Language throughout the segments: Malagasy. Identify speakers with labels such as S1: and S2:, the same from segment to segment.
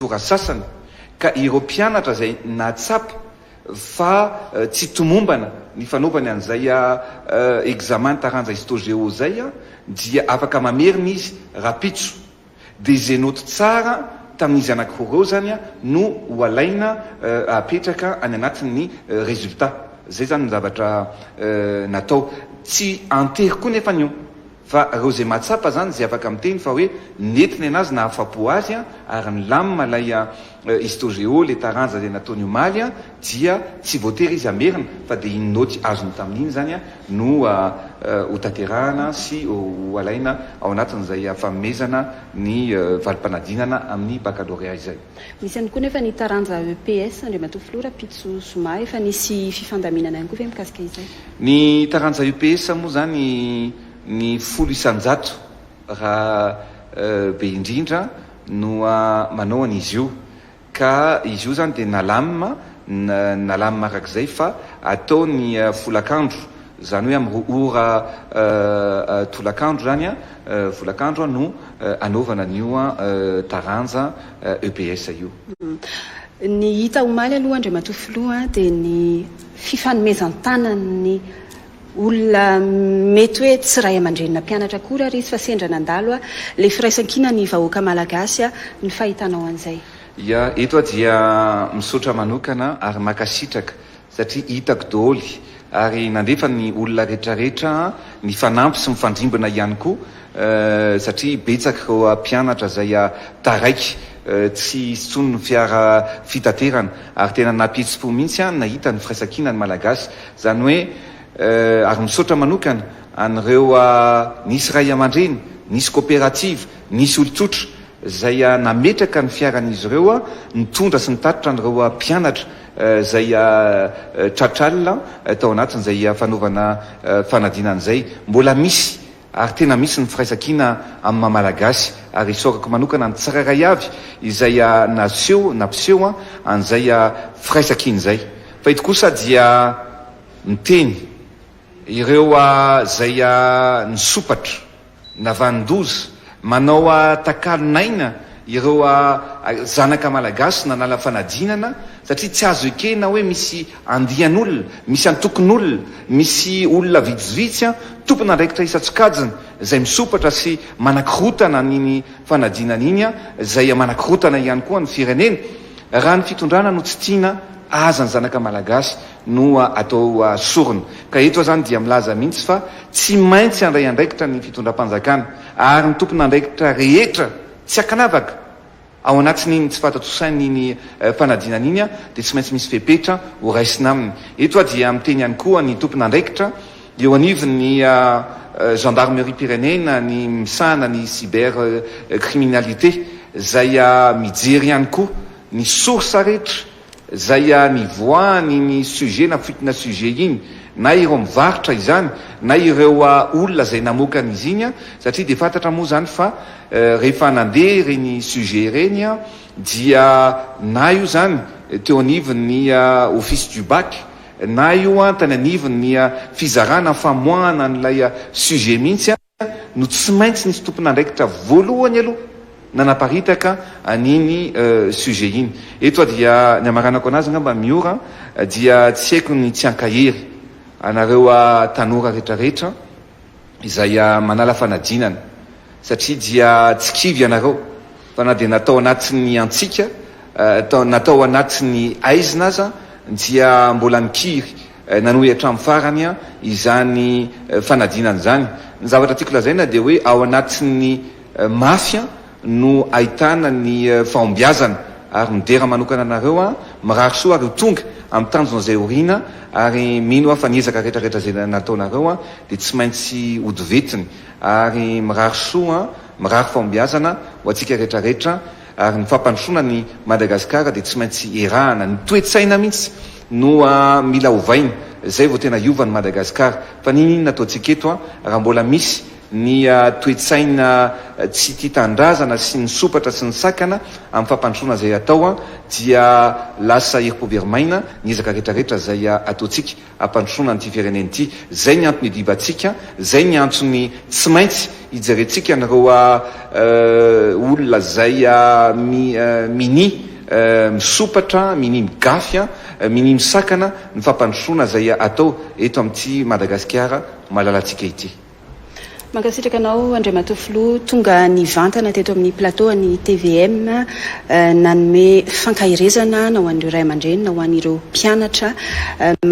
S1: tora sasany ka ireo mpianatra izay nahatsapa fa tsy tomombana ny fanaovany an'izay examen taranja histo-geo izay dia afaka mamerina izy rahampitso. Dia izay noty tsara tamin'izy anankiroa ireo izany no ho alaina apetraka any anatin'ny resultat. Izay izany ny zavatra natao. Tsy antery koa nefa ny eo. Fa reo ze mahatsapa zany ze afaka miteny fa hoe nety ny anazy nahafapo azy a ary ny lamina ilay a histogeo le taranja le nataony omaly a dia tsy voatery izy hamerina fa de iny noty azony taminy iny zany a no a ho tanterahana sy ho alaina ao anatiny zay a fanomezana ny valimpanadinana aminy bakalorea izay. Misy ihany koa nefa ny taranja EPS, Andriamatoa Filoha, Rahampitso zoma efa nisy fifandaminana ihany koa ve mikasika izay? Ny taranja EPS moa izany ny folo isan-jato raha be indrindra no manao an'izy io ka izy io izany dia nalamina, nalamina araka izay fa atao ny folakandro. Izany hoe amin'ny ora tolakandro izany an, volakandro an, no anaovana an'io taranja EPS io. Ny hita omaly aloha Andriamatoa Filoha dia ny fifanomezan-tanan'ny olona mety hoe tsy ray aman-drenina mpianatra akory ary izy fa sendra nandalo ilay firaisan-kina ny vahoaka Malagasy ny fahitanao an'izay. Ia, eto aho dia misaotra manokana ary mankasitraka satria hitako doholy ary nandefa ny olona retraretra mifanampy sy mifandrimbona ihany koa satria betsaka ireo mpianatra izay taraiky tsy hisy tsony ny fiara fitaterana ary tena napihetsi-po mihitsy aho nahita ny firaisankina ny malagasy izany hoe ary misaotra manokana an'ireo nisy ray aman-dreny nisy koperativa nisy olon-tsotra izay nametraka ny fiaran'izy ireo nitondra sy nitatitra an'ireo mpianatra izay tratr'alina tao anatin'izay fanaovana fanadinana izay. Mbola misy ary tena misy ny firaisankina amin'ny maha Malagasy ary isaorako manokana ny tsirairay avy izay naseho na mpiseho an'izay firaisankina izay. Fa eto kosa dia miteny ireo izay nisompatra. Navanin-doza. Manao takalon'aina ireo zanaka malagasy nanala fanadinana satria tsy azo ekena hoe misy andian'olona, misy antokon'olona, misy olona vitsivitsy tompon'andraikitra isan-tsokajiny izay misompatra sy manakorotana an'iny fanadinana iny izay manakorotana ihany koa ny firenena. Raha ny fitondrana no tsy tiana aza ny zanaka malagasy no atao sorona. Ka eto aho izany dia milaza mihitsy fa Tsy maintsy handray andraikitra ny fitondram-panjakana ary ny tompon'andraikitra rehetra tsy ankanavaka ao anatin'iny tsy fahatatrosaina iny fanadinana iny dia tsy maintsy misy fepetra ho raisina aminy. Eto aho dia miteny ihany koa ny tompon'andraikitra eo anivon'ny Gendarmeriam-pirenena ny misahana ny cyber criminalité izay mijery ihany koa ny source rehetra Zay ihany ivoahany iny sujet na fuite na sujet iny na ireo mivarotra izany na ireo olona zay namoaka an'izy iny an, satria dia fantatra moa zany fa rehefa nandeha ireny sujet ireny dia na io zany teo anivon'ny office du bac na io an tany anivon'ny fizarana famoahana an'ilay sujet mihitsy an. no tsy maintsy nisy tompon'andraikitra voalohany aloha nanaparitaka an'iny sujet iny. Eto aho dia ny hamaranako anazy angamba Miora dia tsy haiko ny tsy hankahery anareo tanora retraretra izay manala fanadinana satria dia tsy kivy ianareo fa na dia natao anatin'ny antsika, natao anatin'ny aizina aza dia mbola nikiry. Nanohy hatramin'ny farany izany fanadinana izany. Ny zavatra tiako lazaina dia hoe ao anatin'ny mafy no ahitana ny fahombiazana ary midera manokana anareo aho, mirary soa ary ho tonga amin'ny tanjona izay horina ary mino aho fa ny ezaka rehetra rehetra izay nataonareo dia tsy maintsy hodivetiny ary mirary soa, mirary fahombiazana ho antsika rehetra rehetra. Ary ny fampandrosoana an'i Madagasikara dia tsy maintsy erahana. Ny toe-tsaina mihitsy no mila ovaina, izay vao tena hiova an'i Madagasikara. Fa n'inon'inona ataontsika eto raha mbola misy ny toe-tsaina tsy tia tanindrazana sy ny sompatra sy ny sakana amin'ny fampandrosoana izay atao dia lasa herim-po very maina ny ezaka rehetra rehetra izay ataontsika. hampandrosoana an'ity firenena ity. Izay ny antony idibantsika, izay ny antony tsy maintsy ijerentsika an'ireo olona izay minia misompatra, minia migafy, minia misakana ny fampandrosoana izay atao eto amin'ity Madagasikara malalantsika ity. Mankasitraka anao Andriamatoa Filoha tonga nivantana teto amin'ny plateau an'ny tvm nanome fankaherezana na ho an'ireo ray aman-dreny na ho an'ireo mpianatra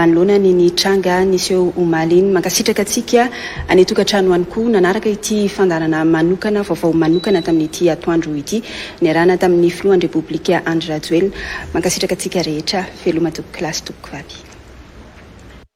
S1: manoloana ny ny tranga niseho omaly iny. Mankasitraka antsika any an-tokantrano ihany koa nanaraka ity fandaharana manokana vaovao manokana tamin'ity atoandro ity niarahana tamin'ny Filohan'ny Repoblika Andry Rajoelina. Mankasitraka antsika rehetra. Veloma tompoko lahy sy tompoko vavy.